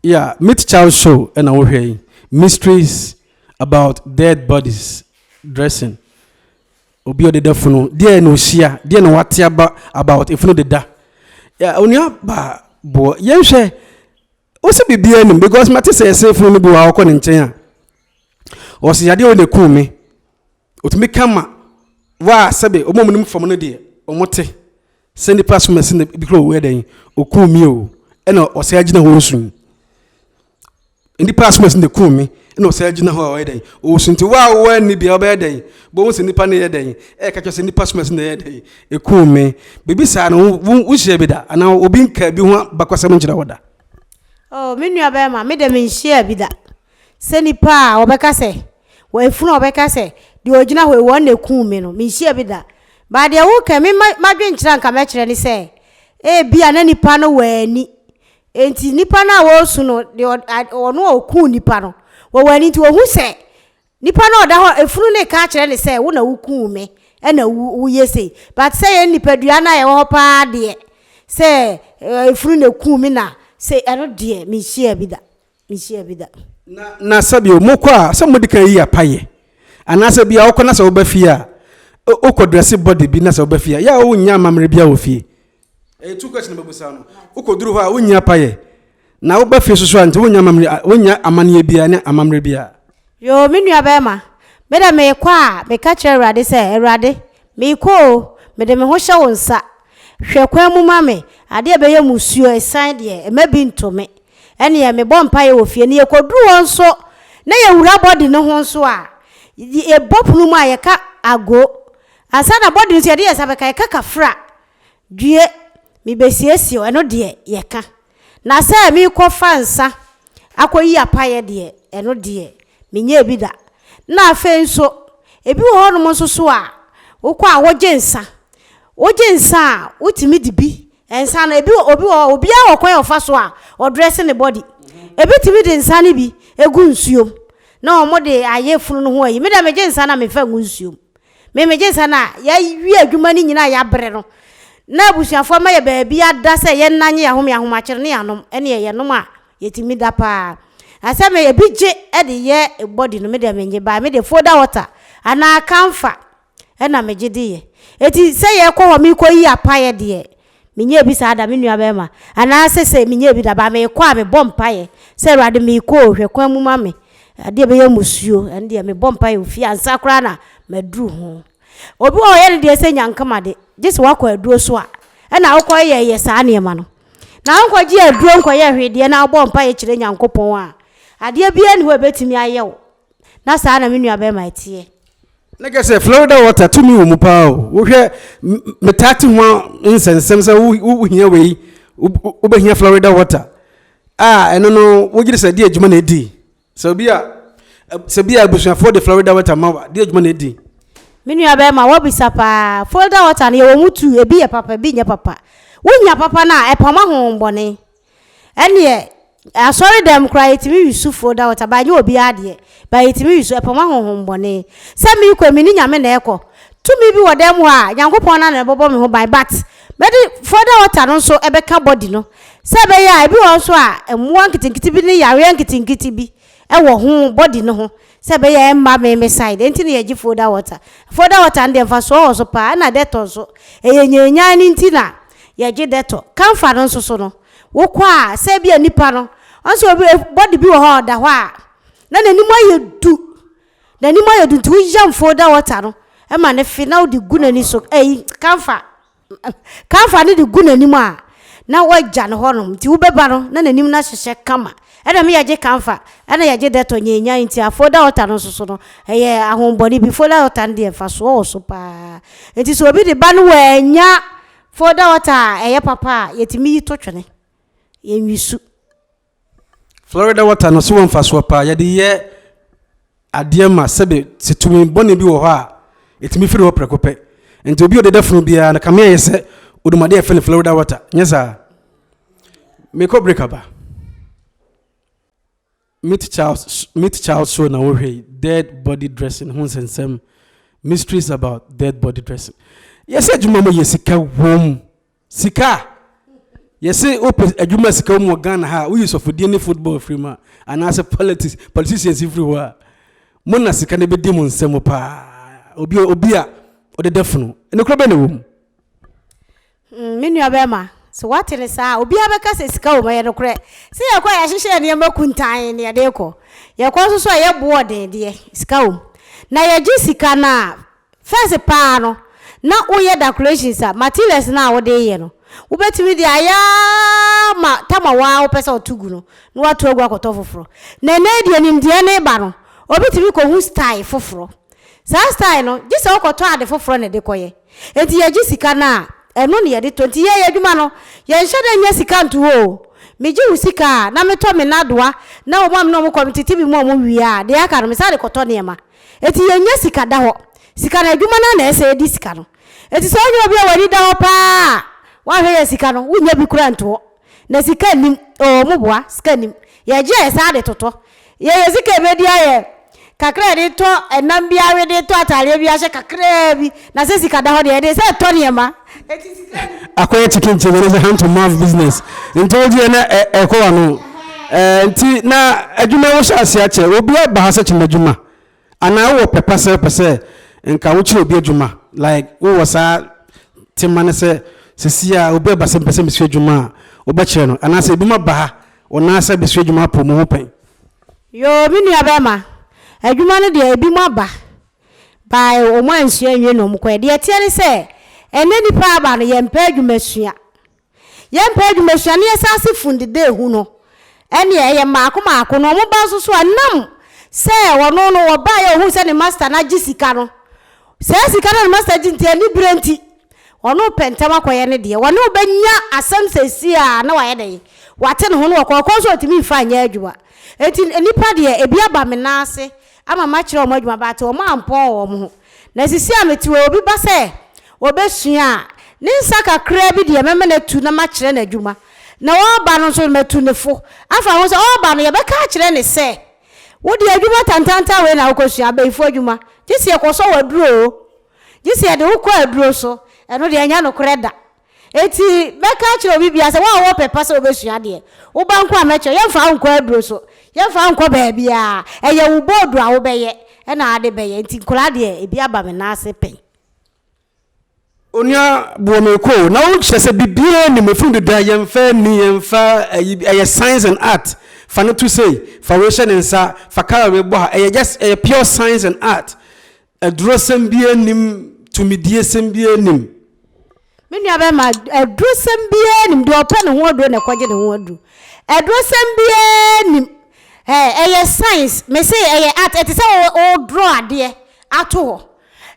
Yeah, Meet Child Show ɛna wohwɛ yi. Mysteries about dead bodies dressing. Obi ɔde da funu. Deɛ na ohyia. Deɛ na wate aba about efunu de da. Yeah, onua ba boɔ. Yɛnhwɛ wosi biribiara nim because mate sɛ ɛsɛfunu no bi wɔ a wɔkɔ ne nkyɛn a wɔsi yadeɛ wɔ na ekum me otumi ka ma waa sɛbe wɔn a wɔn nim fam no deɛ wɔn te sɛ nipa so mɛsi na bi kura owuɛ dɛn okum mi o ɛna ɔsɛ agyina hɔ osun nipa so mɛsi na ekum mi ɛna ɔsɛ agyina hɔ a ɔyɛ dɛn osun ti waa wɔn ani deɛ ɔbɛyɛ dɛn bɔn sɛ nipa no yɛ dɛn ɛka kyerɛ sɛ nipa so mɛsi na ɛyɛ dɛn. Ekum me. Biribi saa no, wo, wo, wohyiaa bi da? Anaa obi nkaa bi ho abakɔsɛm nkyerɛ wo da? Oh, me nua bɛrima, me de menhyiaa bi da. Sɛ nipa a wɔbɛka sɛ, wɔ efunu a wɔbɛka sɛ, deɛ ɔgyina hɔ yi, wɔn na ekum me no, menhyiaa bi da. But deɛ woka yi, me, ma, m'adwenkyerɛ a nka mɛkyerɛ ne sɛ, ebia na nipa no wɔ ani. Enti nipa no a wɔresu no, deɛ ɔ, ɔno a ɔkum nipa no, wɔwɔ ani nti wɔhu sɛ Nipa no a ɔda hɔ, efunu no reka akyerɛ no sɛ, wo na wukuu me na wo woyɛ sei. But sɛ yɛn nipadua no a yɛwɔ hɔ paa deɛ, sɛ efunu na ekuu me na sei, ɛno deɛ menhyiaa bi da. Menhyiaa bi da. Na, na sɛ bio, mokɔ a, sɛ modi kan yi apa yɛ. Anaasɛ ebia wokɔ na sɛ woba fie a, wokɔ dresse body bi na sɛ woba fie a, yɛ a wonnya amammerɛ biara wɔ fie. Ɛyɛ two question na bɛbusa no. Wokɔduru hɔ a wonyi apa yɛ. Na woba fie nso so a nti wonnya amammerɛ wonnya amanneɛ biara ne amammerɛ biara. Yoo me nua bɛɛma, me dɛ meekɔ a meka kyerɛ Awurade sɛ Awurade meekɔ oo mede me ho hyɛ wo nsa hwɛ kwan mu ma me adeɛ ɛbɛyɛ musuo ɛsan deɛ ɛma bi nto me ɛneɛ mebɔ mpaeɛ wɔ fie na yɛkɔduru hɔ nso na yɛwura body no ho nso a yɛbɔ pono mu a yɛka ago ansa na body no nso yɛde yɛnsa bɛka yɛka kafra Due, mebɛsiesie wo, ɛno deɛ, yɛka. Na sɛ merekɔfa nsã akɔyi apaeɛ deɛ, ɛno deɛ, menyɛɛ bi da. Na afei nso, ebi wɔ hɔnom nso so a, wokɔ a wogye nsã. Wogye nsã a, wotumi di bi. Nsã no, ebi wɔ, obi wɔ hɔ, obiara wɔ kwan a ɔfa so a ɔdrɛse ne body. Ebi tumi de nsã no bi gu nsuom na wɔde ayɛ funu no ho ayi. Me deɛ, megye nsã no a, memfa ngu nsuom. Me megye nsa na yɛawie adwuma no nyina a yɛabrɛ no na abusuafoɔ ama yɛ baabi ada sɛ yɛn nna nye yɛn ahome ahomakyere ne yɛn anom ɛneɛ yɛnom a yɛtumi da paa na sɛ me ebi gye de yɛ body no me deɛ mennye by me deɛ foda water anaa camphor ɛna megye de yɛ eti sɛ yɛkɔ hɔ mekɔ yi apaeɛ deɛ Menyɛɛ bi saa da, me nua barima, anaa seesei menyɛɛ bi da, but meekɔ a, mebɔ mpaeɛ sɛ, Awurade, meekɔ o, hwɛ kwan mu ma me, adeɛ a ɛbɛyɛ mmusuo, ɛno deɛ mebɔ mpaeɛ o, fie ansa koraa na maduru ho. Obi wɔ hɔ a, ɔyɛ ne deɛ sɛ nyankema de, gye sɛ woakɔ aduro so a, ɛna wokɔyɛyɛ saa nneɛma no. Na wonkɔgyee aduro nkɔyɛɛ hwee deɛ na wobɔɔ mpaeɛ kyerɛɛ Nyankopɔn a, adeɛ biara nni hɔ a ɛbɛtumi ayɛ wo. na saa na me nua bɛrima ɛteɛ. Ne kɛ sɛ Florida water tumi wɔ mu paa o wohwɛ metaa te ho nsɛnsɛm sɛ wohia wei wobɛhia Florida water a ɛno no wogyere sɛ de adwuma na ɛdi sɛ obi a sɛ bi a abusuafoɔ de Florida water ma wa de adwuma na ɛdi. Me nua bɛrima wabisa paa Florida water no yɛwɔ mu tu ebi yɛ papa ebi nyɛ papa wonya papa no a ɛpama ho bɔne Ɛneɛ asɔre dɛm koraa yɛtumi we su fo da wɔ ta ba nyɛ obiara deɛ ba yɛtumi we su ɛpɔ ma honhom bɔne sɛ me kɔ me ne nyame na ɛkɔ tumi bi wɔ dɛm hɔ a nyankopɔn na na ɛbɔbɔ me ho ban but mɛde fo da wɔ ta no nso ɛbɛka body no sɛ ɛbɛyɛ a ebi wɔ nso a mmoa nketenkete bi ne yareɛ nketenkete bi wɔ ho body no ho sɛ ɛbɛyɛ a ɛmma me me side nti na yɛgye folder water. Folder water no deɛ mfasoɔ wɔ so paa ɛna Dettol nso ɛyɛ nyanyan no nti na yɛgye Dettol. Camphor no nso so no wokɔ a sɛ ebia nipa no ɔn sɛ obi body bi wɔ hɔ a ɔda hɔ a na n'anim ayɛ du n'anim ayɛ du nti woyam folder water no ma no fe na wode gu n'ani so ɛyi camphor. Kaiafa no de gu n'anim a, na wɔagya no hɔnom, nti wobɛba no, na n'anim no ahyehyɛ kama. Ɛnna me yɛgye Kaiafa, ɛnna yɛgye Dɛtɔ nyaanyan nti a folder altar no nso so no, ɛyɛ ahohommɔne bi. Folder altar no deɛ mfasoɔ wɔ so pa ara. Nti sɛ obi de ba no wannya folder altar a ɛyɛ papa a, yɛtumi yi to twene. Yɛnwisu. Florida water no so wɔ mfasoɔ paa yɛde yɛ adeɛ ma sɛbe sɛ tumi bɔne bi wɔ hɔ a ɛtumi firi hɔ prɛko pɛ nti obi ɔdeda funu biara no kame ayɛ sɛ odum adeɛ ɛfɛ no Florida water nyɛ saa mekɔ break aba meet child meet child show na wohwɛ dead body dressing ho nsɛnsɛm mysteries about dead body dressing yɛsɛ adwuma mu yɛ sika wom Sika a yɛse wopɛ adwuma sika wɔ mu wɔ Ghana ha a, woyi sɔfodie ne football firi mu a, anaasɛ politics, politicians firi hɔ a, mo na sika no bɛdi mo nsa mu paa. Obi, obi a ɔde da funu. Nokorɛ bɛn na ɛwɔ mu? Mm, me nua bɛrima, sɛ woate ne saa a, obiara bɛka sɛ sika wɔ mu, ɛyɛ nokorɛ. Sɛ yɛkɔ a yɛahyehyɛ yɛ nneɛma kuntan ne yɛde rekɔ. Yɛkɔ nso so a yɛboɔ ɔden deɛ, sika wɔ mu. Na yɛgye sika no a, First paa no, na woyɛ decorations a, materials no a wode reyɛ no, wobɛtumi de ayɛ ara ma tam a wo ara wopɛ sɛ woto gu no, na woato agu akɔtɔ foforɔ. Na ɛnnɛ yi deɛ nimdeɛ no reba no, obi tumi kɔhu style foforɔ. Saa style no, gye sɛ wokɔtɔ ade foforɔ na ɛde kɔyɛ. Enti yɛgye sika no a, ɛno na yɛde tɔ. Enti yɛyɛ adwuma no, yɛnhyɛ da nnya sika nto hɔ o. Megye wo sika a, na metɔ me nnadoa, na wɔn a me ne wɔn kɔ no, metete bi ma wɔn wie a, deɛ aka no, mesane kɔtɔ nneɛma. Enti yɛnnya sika da hɔ. Sika no, adwuma no ara na ɛsɛ sɛ yɛde sika no. Enti sɛ wonya obi a w'ani da hɔ paa a wahwɛ yɛn sika no, wonnya bi koraa nto hɔ. Na sika nnim. Oo, mo boa, sika nnim. Yɛgye a yɛsan de totɔ. Yɛyɛ sika a ɛbɛdi ayɛ kakra a yɛde tɔ ɛnam bi awe, de tɔ ataadeɛ bi ahyɛ kakraa bi. Na sɛ sika da hɔ deɛ, yɛde sɛ tɔ nneɛma. Akɔyɛ chicken chicken ne sɛ hand to mouth business nti wogye yɛ na ɛkɔ wano nti na adwuma wo hyɛ ase akyɛ obi aba ha sɛ kyema adwuma anaa wowɔ pɛ pa sɛ wopɛ sɛ nka wokyerɛ obi adwuma like wowɔ saa tema ne sɛ sisi a obi aba sɛ mpɛ sɛ mesua adwuma a wobɛkyerɛ no anaasɛ ebi ma ba ha wɔnaa sɛ bɛsua adwuma apɔ mu ho pɛn. Yoo me nua bɛɛma adwuma no deɛ ebi mo aba bae a, wɔansua anwie na wɔkɔe. Deɛ ɛteɛ ne sɛ, ɛnnɛ nnipa aba no, yɛmpɛ adwumasua. Yɛmpɛ adwumasua na yɛsan se fundida ehu no. Ɛnneɛ, ɛyɛ mmaako mmaako na wɔba nso so a, nam sɛ ɔno no, ɔbaeɛ a ɔhuu sɛ ne masta no agye sika no. Saa sika no a ne masta gye nti, aniberɛ nti, ɔno repɛ ntɛm akɔyɛ ne deɛ. Wɔne wo bɛnya asɛm seesei a na wayɛ dɛn? Wate ne ho na wakɔ. Ɔkɔ nso a, ɔtumi mfa nyɛ adwuma. Enti nnipa deɛ, ebi aba me nan ase ama makyerɛ wɔn adwuma baate wɔn ampɔn wɔn ho, na sisi a mete hɔ yi obi ba sɛ ɔbɛsua a, ne nsa kakraa bi deɛ mɛma no atu na makyerɛ no adwuma, na ɔreba no nso matu ne fo afa ho sɛ ɔreba no yɛbɛka akyerɛ no sɛ wo deɛ adwuma tantantan wei na wokɔsua, abayifoɔ adwuma, gye sɛ yɛkɔsɔ wo aduro o, gye sɛ yɛde wo kɔ aduro so, ɛno deɛ ɛnyɛ nokorɛ da. Enti mɛka akyerɛ obi biara sɛ, Wo a wɔpɛ pa sɛ wobɛsua adeɛ, wo ba nko a mɛkyerɛ, yɛmfa wo nkɔ aduro so, yɛmfa wo nkɔ baabiara, ɛyɛ wo bɔɔdu a wobɛyɛ na ade bɛyɛ, enti nkwadaa deɛ, ebi aba me nan ase pɛn. Onua boɔ me kɔ o, na wo kyerɛ sɛ biribiara nni mu, ɛfiri no deda, yɛmfa ani, yɛmfa ayi, ɛyɛ science and art, fa no to sei, fa wei hyɛ ne nsa, fa colour wei bɔ ha, ɛyɛ just, ɛyɛ pure science and art, Adurosɛm biara nnim, tumidiesɛm biara nnim. Me nuabarima, adurosɛm biara nnim. Deɛ ɔpɛ ne ho aduro na ɛkɔgye ne ho aduro. Adurosɛm biara nnim. Ɛɛ, ɛyɛ science, me se ɛyɛ art, ɛte sɛ wo, wo draw adeɛ ato hɔ.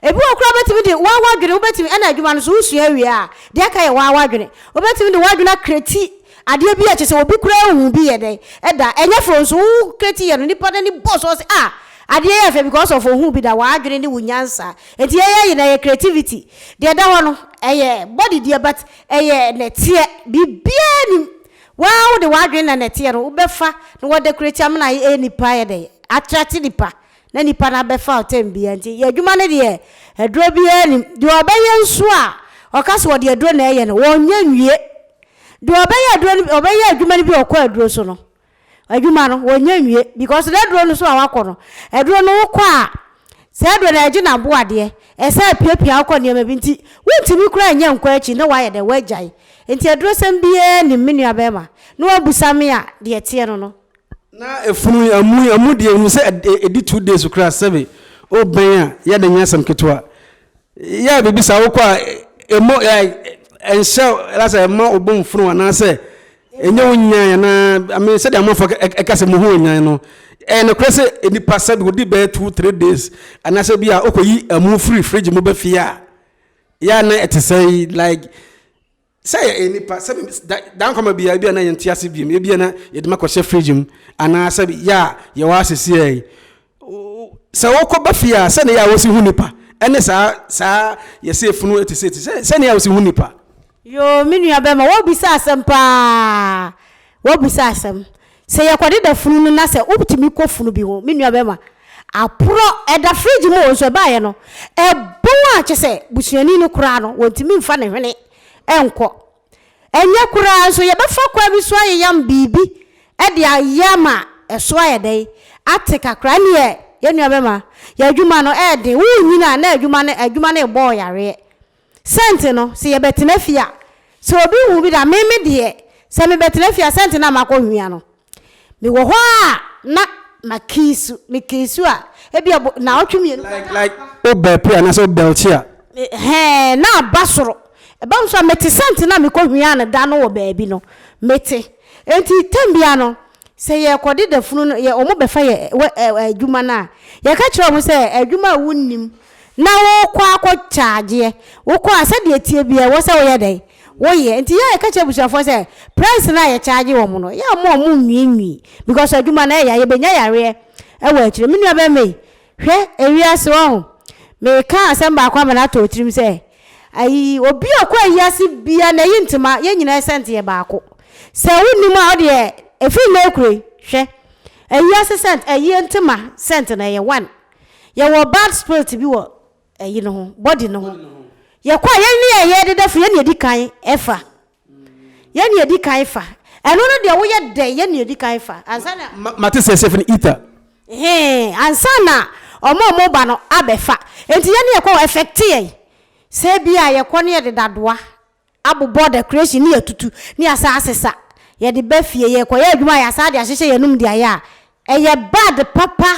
Ebi wɔ koraa wobɛtumi de wo ara w'adwene, wobɛtumi, ɛna adwuma no nso wosua wie a, deɛ aka yɛ wo ara w'adwene. Wobɛtumi de w'adwene akreti. Adeɛ bi a kyɛ sɛ obi koraa nhu bi yɛ dɛn da? Ɛnyɛ fɛ o nso wo kreti yɛ no nipa n'ani bɔ so ɔse ah adeɛ yi yɛ fɛ because of ohuu bi da w'adwene ne wo nyansa nti yɛ yɛ nyinaa yɛ creativity deɛ ɛda hɔ no ɛyɛ body deɛ but ɛyɛ nɛteɛ biribiara nnim waa wode w'adwene na nɛteɛ no wobɛfa na w'adekoreti amena ayɛ nipa ayɛ dɛn atrate nipa na nnipa no abɛfa ɔtɛm biara nti yɛ adwuma no deɛ aduro biara nim deɛ ɔbɛyɛ nso a ɔka sɛ ɔde aduro na ɛyɛ no wɔnyɛ nwie deɛ ɔbɛyɛ aduro no ɔbɛyɛ adwuma no bi ɔkɔ aduro so no adwuma no wɔnyɛ nwie because na aduro no so a wakɔ no aduro no wokɔ a sɛ aduro no ɛgye na bo adeɛ ɛsɛ apiapia wokɔ nneɛma bi nti wontumi kura nyɛ nkɔ akyi na wayɛ dɛ wagyae nti aduro sɛm biara nim me nua bɛrima na wabusa me a deɛ teɛ no no Na efunu yi amu yi amu deɛ nim sɛ ɛdi two days koraa sɛbe o bɛn a yɛ de nyɛ asɛm ketewa yɛ a biribi saa wokɔ a ɛmɔ ɛnhyɛ ɛlasɛ ɛma ɔbɔ mfunu anaasɛ ɛnyɛ wo nyan anaa ame sɛdeɛ amanfoɔ ɛka sɛ muhu ɔnyan no ɛyɛ nokorɛ sɛ nipa sɛbe ɔdi bɛyɛ two three days anaasɛ bi a wokɔyi amu firi fridge mu bɛfie a yɛ a na ɛte sɛ like Sɛ yɛyɛ nnipa, sɛ daa nkwa ma biara, ebia na yɛnte ase bio, ebia na yɛde ma kɔhyɛ fridge mu, anaa sɛ yɛ a yɛwɔ ha seesei yi, sɛ wokɔba fie a, sɛnea yɛ a wosi hu nnipa ne saa saa yɛsɛ efunu te sɛ ti sɛ sɛnea yɛ a wosi hu nnipa. Yoo, me nua bɛma, woabisa asɛm paa, woabisa asɛm. Sɛ yɛkɔdeda funu no na sɛ wotumi kɔ funu bi ho, me nua bɛrima, aporɔ, ɛda fridge mu o, nso ɛbaeɛ no, ɛbɔn a kyɛ sɛ busuani no koraa no, wɔntumi mfa ne hwene nkɔ. Ɛnyɛ koraa nso, yɛbɛfa kwan bi so ayeyam biribi de ayɛ ama ɛso ayɛ dɛn? Ate kakra. Ɛnneɛ, yɛn nua bɛrima, yɛn adwuma no, ɛyɛ den. Worenyini a, na adwuma no, adwuma no rebɔ wo yareɛ. Sɛnti no sɛ yɛbɛtena fie a sɛ obi hu bi da me me deɛ sɛ me bɛtena fie a sɛnti na makɔ hwia no me wɔ hɔ a na ma kiisu me kiisu a ebi a naawɔtwe mmienu bɛka like like wo bɛɛpe a nasɛ wo bɛlkye a. Hɛɛ na aba soro ɛbam so a mete sɛnti na mekɔ hwia no da no wɔ baabi no mete enti tam bia no sɛ yɛ kɔ de da funu no yɛ ɔmo bɛfa yɛ wɛ adwuma no a yɛka kyerɛ ɔmo sɛ adwuma a wo nnim na wokɔ akɔtwa agyeɛ, wokɔ a sɛdeɛ ɛteɛ biara ɛwɔ sɛ woyɛ dɛn? Woyɛ. Nti yɛ a yɛka kyerɛ abusuafoɔ sɛ price no a yɛcharge wɔn no, yɛ a mo a monnwiinwii because adwuma no ɛya, yɛbɛnya yareɛ wɔ akyire. Me nuabɛrima yi, hwɛ ewiase wahu. Meka asɛm baako ama no atɔ wo tirim sɛ, ayi, obi a ɔkɔ ayiase biara na ɛyi ntoma, yɛn nyinaa sɛnte yɛ baako. Sɛ wonnim a wodeɛ, ɛfiri nnɛ rekura yi, hwɛ, ayiase sɛnt, ayie ntoma sɛnt no ɛyɛ one. Yɛwɔ bad spirit bi wɔ ɛyi no ho, body no ho. Yɛkɔ a yɛn ne ɛyɛ deda firi yɛn ne edi kan ɛfa. Yɛn ne edi kan fa. Ɛno no deɛ woyɛ dɛ yɛn ne edi kan fa. Ansa na. Ma ma te sɛ sɛ fini ita. Hee ansa na ɔmo a ɔmo ba no abɛfa. Enti yɛn ne yɛkɔ wɔ ɛfɛkte yɛn. Sɛ ebi a yɛkɔ ne yɛde dadoa abobɔ decoration ne yɛatutu ne yɛasan asesa yɛde ba fie yɛkɔyɛ adwuma a yɛasan de ahyehyɛ yɛn anom de ayɛ a ɛyɛ bad papa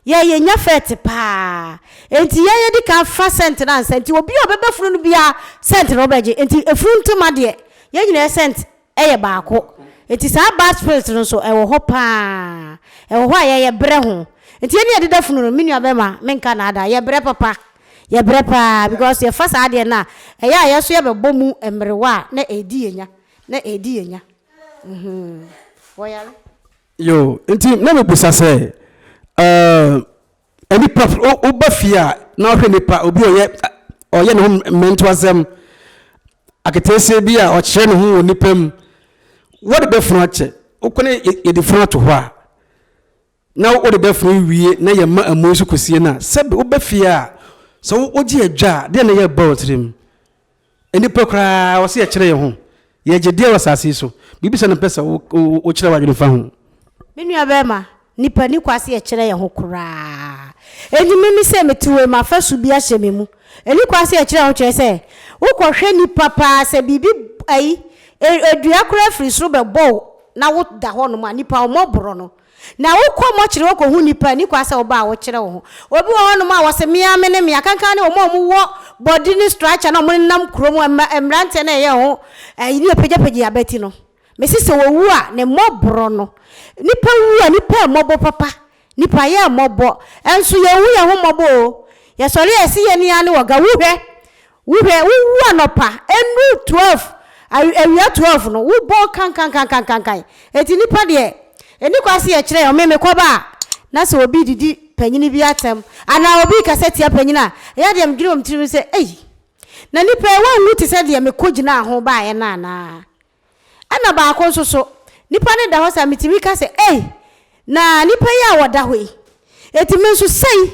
yɛn yɛnya fɛt paa enti yɛn yɛdi kan fa scent no ansa nti obi a ɔbɛbɛ funu no biara scent na ɔbɛgye enti efunu ntoma deɛ yɛn nyinaa yɛ scent Ɛyɛ baako. Enti saa bad spirit no nso ɛwɔ hɔ paa. Ɛwɔ hɔ a yɛyɛ brɛ ho. Enti yɛne adeda funu no, me nua bɛɛma menka naadaa, yɛ brɛ papa. Yɛ brɛ paa because yɛ fa saa adeɛ no a, ɛyɛ a yɛ nso yɛ bɛ bɔ mu mmerewa a na ɛɛdi yɛ nya, na ɛɛdi yɛ nya. Mmhmm. Wɔ yare. Yoo, enti na me bisa sɛ, eh, Nnipa firi, wo, woba fie a na wohwɛ nnipa, obi a ɔyɛ, ɔyɛ ne ho mmɛntoasɛm, aketeesie bi a ɔkyerɛ ne ho wɔ nnipa mu, wode dafunu akyɛ. Wokɔ ne yɛ, yɛde funu ato hɔ a, na wode dafunu wie na yɛma amu nso kɔsie no a, sɛbe woba fie a, sɛ wo, wogye adwa a, deɛ na ɛyɛ ba wo tirim? Nnipa koraa a wɔse yɛkyerɛ yɛn ho, yɛ gye deɛ wɔ asase yi so. Biribi sɛ na mpɛ sɛ wo kyerɛ w'adwene fa ho. Me nua barima, nnipa nni kwa se yɛkyerɛ yɛn ho koraa. Enti me me se mete wei mu afasu bi ahyɛ me mu. Ɛni kwa se yɛkyerɛ yɛn ho kyerɛ sɛ wo kɔ hwɛ nnipa paa sɛ biribi ayi, dua koraa firi soro bɛbɔ wo na wo da hɔ nom a, nnipa wɔn mmɔ borɔ no. Na wokɔ mɔkyere hɔ kɔhu nnipa a ɛnni kwan sɛ woba a wokyerɛ wo ho. Obi wɔ hɔnom a wɔse, Me ara mene me. Akanka ne wɔn a wɔwɔ bɔde ne structure no a wɔnenam kurom, mmeranteɛ no a ɛyɛ ho ayi ne wɔpagyapagya abati no. Mese sɛ wɔwu a, ne mmɔborɔ no. Nnipa wu a, nnipa mmɔbɔ papa. Nnipa yɛ mmɔbɔ. Nso yɛnhu yɛn ho mmɔbɔ o. Yɛsɔre a, ɛse yɛn ni ara ne wɔga. Wu hwɛ! Wohwɛ, wowu anɔpa, ɛnuru twelve, awi, awia twelve no, wobɔ kankankankankankan. Enti nnipa deɛ, ɛnni kwan sɛ yɛkyerɛ yɛn ho. Me, mekɔba a, na sɛ obi redidi panyini bi atɛm, anaa obi rekasa tia panyini a, ɛyɛ a deɛ medwene wɔ me tirim sɛ, Ei! Na nnipa yi, wɔnwu te sɛ deɛ mekɔgyinaa ho baeɛ no anaa? Ɛna baako nso so, nipa no da hɔ saa, metumi ka sɛ, Ei! Na nipa yi a ɔda hɔ yi, enti me nso sei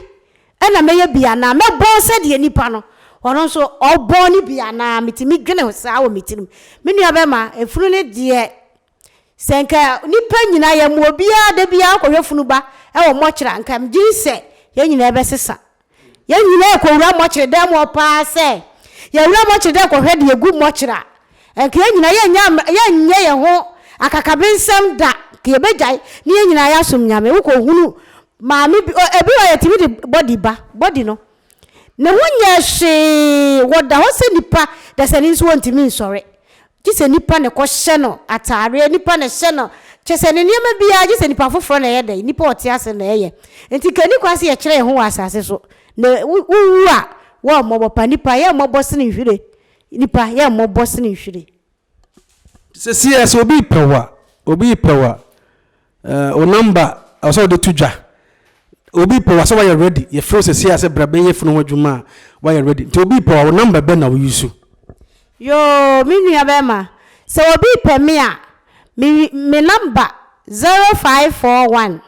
na mɛyɛ bi anaa? Mɛbɔn sɛdeɛ nipa no, ɔno nso, ɔbɔn no bi anaa? Metumi dwene ho saa wɔ me tirim. Me nua bɛma, funu no deɛ, sɛ nka nipa nyinaa, yɛma obiara da biara kɔhwɛ funu ba wɔ mɔkyere a, nka megye di sɛ yɛn nyinaa bɛsesa. Yɛn nyinaa kowura mɔkyere dan mu hɔ paa sɛ yɛwura mɔkyere dan kɔhwɛ deɛ egu mɔkyere a, anka yɛn nyinaa yɛnnya yɛnnyɛ yɛn ho akakabensɛm da, anka yɛbɛgyae ne yɛn nyinaa yɛasom Nyame. Wokɔhunu maame bi, ebi wɔ hɔ a yɛtumi de body ba, body no, ne ho nyɛɛ hwee, wɔda hɔ sɛ nnipa dasani nso wɔntumi nsɔre. Gye sɛ nipa na ɛkɔ hyɛ no ataadeɛ, nipa na ɛhyɛ no, kyerɛ sɛ ne nneɛma biara, gye sɛ nipa foforɔ na ɛyɛ dɛn? Nipa a ɔte ase na ɛyɛ. Enti nka ɛnni kwan sɛ yɛkyerɛ yɛn ho wɔ asase so, na wowu a, wɔn mmɔbɔ pa. Nipa, yɛn mmɔbɔ sene nhwire. Nipa, yɛn mmɔbɔ sene nhwire. Sesie a, sɛ obi repɛ wo a, obi repɛ wo a. Eh wo number ɛwɔ sɛ wode to dwa obi pɛ wo asɛ wayɛ ready yɛfrɛ wo sɛsei asɛ bra bɛyɛ funu ho adwuma a wayɛ ready nti obi pɛ wo a wo number bɛn na wo use. Yoo me nua bɛɛma sɛ obi pɛ me a me me number zero five four one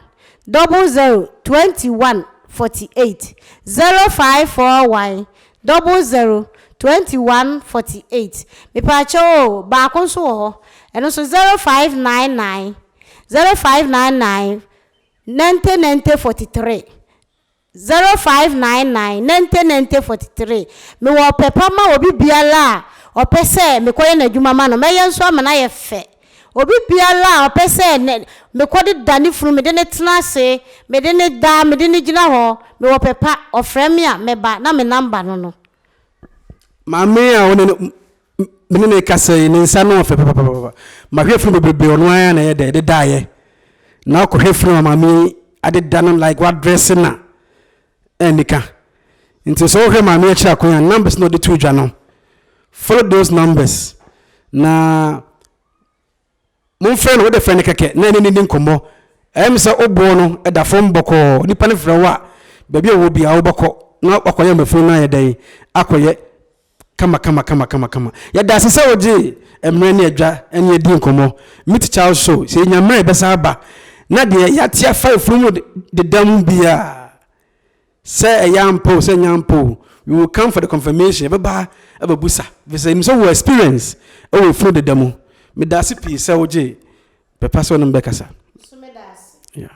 double zero twenty one forty eight zero five four one double zero twenty one forty eight mepaakyɛw oo baako nso wɔ hɔ ɛno nso zero five nine nine zero five nine nine ninety ninety forty three zero five nine nine ninety ninety forty three mewɔ ɔpɛ pa ma obi biara a ɔpɛ sɛ mekɔyɛ n'adwuma ma no mɛyɛ nso ama no ayɛ fɛ obi biara a ɔpɛ sɛ ne mekɔde da ne funu mede ne tena ase mede ne da mede ne gyina hɔ mewɔ ɔpɛ pa ɔfrɛ me a mɛba na me namba no no. Maame a wo ne no. Me ne no rekasa yi, ne nsa no ɔfɛ papapapa. Mahwɛ funu bebrebe, ɔno ara na ɛyɛ dɛ, ɛde daeɛ. Na akɔhwɛ funu a maame yi adeda no like wadrɛse na ɛnika. Nti sɛ wohwɛ maame akyiri akwan a, numbers na ɔde to dwa no, follow those numbers na Momfrɛ no, wode frɛ no kɛkɛ na ɛne no nni nkɔmmɔ. Ɛyɛ me sɛ wo boɔ no da fam bɔkɔɔ. Nipa no frɛ wo a, baabi a ɔwɔ biara wobɛkɔ na wakɔyɛ ama funu no ayɛ dɛn? Akɔyɛ kama kama kama kama kama. Yɛda ase sɛ wogyee mmerɛ ne adwa ne adi nkɔmmɔ. Meet Charles Show, sɛ yɛnya mmerɛ a yɛbɛsan aba na deɛ yɛate afa funu mu deda mu biara. Sɛ ɛyɛ ampa o sɛ ɛnyɛ ampa o, we will come for the confirmation, yɛbɛba abɛbusa, ɛfiri sɛ yɛnim sɛ wowɔ experience wɔ efunu deda mu. Medaase pii sɛ wogye pɛpa sɛ wo ne me bɛkasa. Nso medaase. Yeah.